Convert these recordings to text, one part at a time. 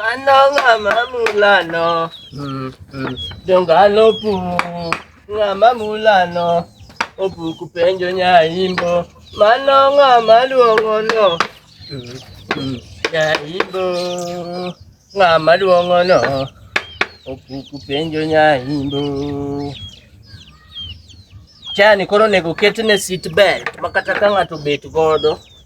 Mano ng'ama mulano. Mm, mm. Jongalo pu. Ng'ama mulano. Opuku penjo nyaimbo. Mano ng'ama luongo no. Mm, mm. Nyaimbo. Ng'ama luongo no. Opuku penjo nyaimbo. Chani koro nego ketne seat belt makata ka ng'ato bet godo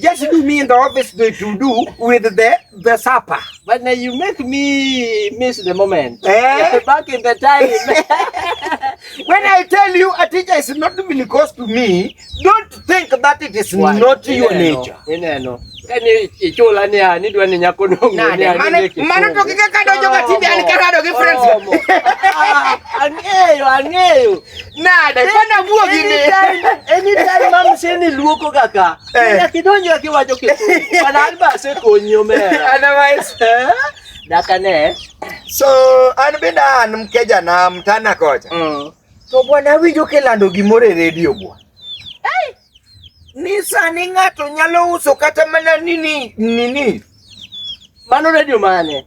Just do me in the office to, to do with the the supper. But now you make me miss the moment. Eh? Back in the time. When I tell you a teacher is not even close to me, don't think that it is Why? not your Ineno, nature. Ineno. Kani ichula ni ani dwa ni nyako nungu. Nade, mano mano to kika kadojo ka tinde an karado gi friends. Ang'eyo, ang'eyo. Nade, kwani abuogi ni? Anytime, anytime mam seni luoko kaka. Eh. Ina kidonjo akiwacho kitu. Bana alba se konyo mera. Otherwise, Eh? Daka ne. so an bende an mkeja na mtana kocha. Mm. To bwana winjo kilando gimoro e redio bwa. Ni sani ng'ato nyalo uso kata mana nini nini. Mano radio mane?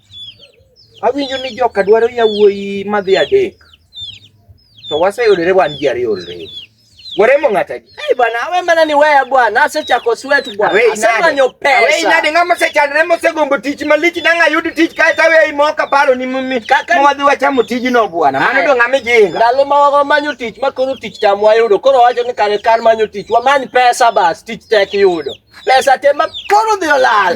Awinjo ni joka dwaro yawuoyi madhi adek. To waseyudore wan ji ariyo already. Waremo ng'ata ji. Hey bwana, awe mana ni weya bwana, asechako sweat bwana. Awe inade. Asemanyo pesa. Awe inade ng'ama osechandre mosegombo tich malich nang' ayud tich kae to awe imo kaparo ni mimi. Kaka ni- Mwadhi wachamo tijno bwana. Mano Aye. do ng'ama ijinga. Ndalo ma wago manyo tich ma koro tich tam wayudo. Koro wacho ni kare kar manyo tich, wamany pesa bas, tich tek yudo. Pesa te ma koro dhi olal.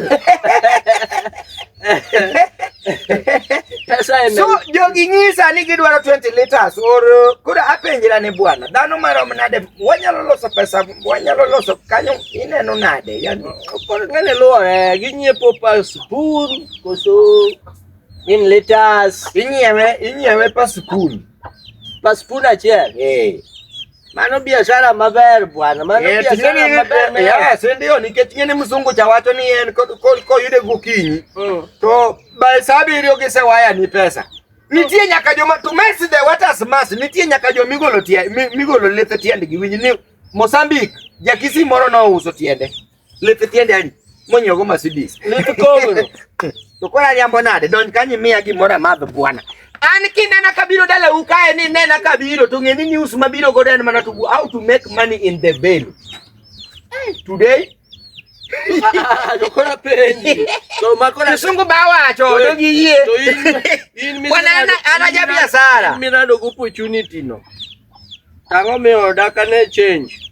Pesa en. So jogi nyisa ni gidwaro 20 liters or kura apenjira ni bwana dhano marom nade wanyalo loso pesa wanyalo loso kanyo ineno nade yani koro ngane luore ginyiepo pa spoon koso in liters inyiewe inyiewe pa spoon pa spoon achiel eh Mano biashara maber bwana. Mano eh, biashara maber. Eh, yes, ndio nikech ng'e ni mzungu cha wacho ni en koyude gokinyi mm. to by saa abiriyo gisewaya ni pesa. Nitie nyaka joma to mess the waters mass. Nitie nyaka joma migolo tie migolo lethe tiendgi winj ni Mozambique jakisi moro nouso tiende. Lete tiende ali. Monyo go Mercedes. Lete kogoro. To kwa liambo nade don kanyi miya gimora madho bwana. An kinena kabiro dala ukae ni nena kabiro to ng'eni news mabiro godo en mana to how to make money in the veil. Eh, today Kisungu bawacho to giyie. Wanana anaja biashara. Mimi nado opportunity no. Tango me oda kane change.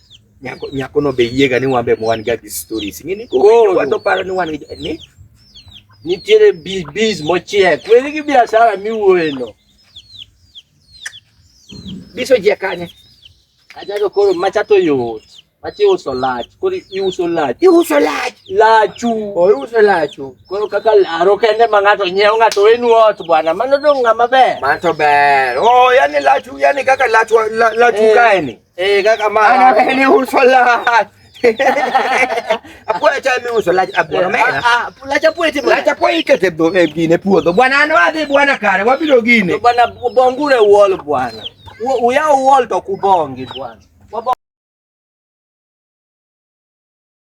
Nyako nyako no be yiega ni wan be wan ga gi stories. Ng'eni ko Koro. wato paro ni wan gi ni Nitiere biz biz mochiek. Weri gi biashara miwuoye no. biso je kanye. Ajago koro macha to yot. Macha iuso lach. Koro iuso lach. Iuso lach. Lachu. Oiuso lachu. Koro kaka laro kende ma ng'ato nyiewo ng'ato wenu ot bwana. Mano dong' ng'ama ber. Mato ber. Oh, yani lachu, yani kaka lachu la- lachu Eh. kae ni. Eh kaka mara. Ana kani usola. Apula cha mi usola abwa ah, mera. Ah, apula cha pwete bwana. Cha pwete te bwana eh, gine puodho. Bwana ano adhi bwana kare wabiro gine. Bwana bongure wall bwana. Uya wall to kubongi bwana.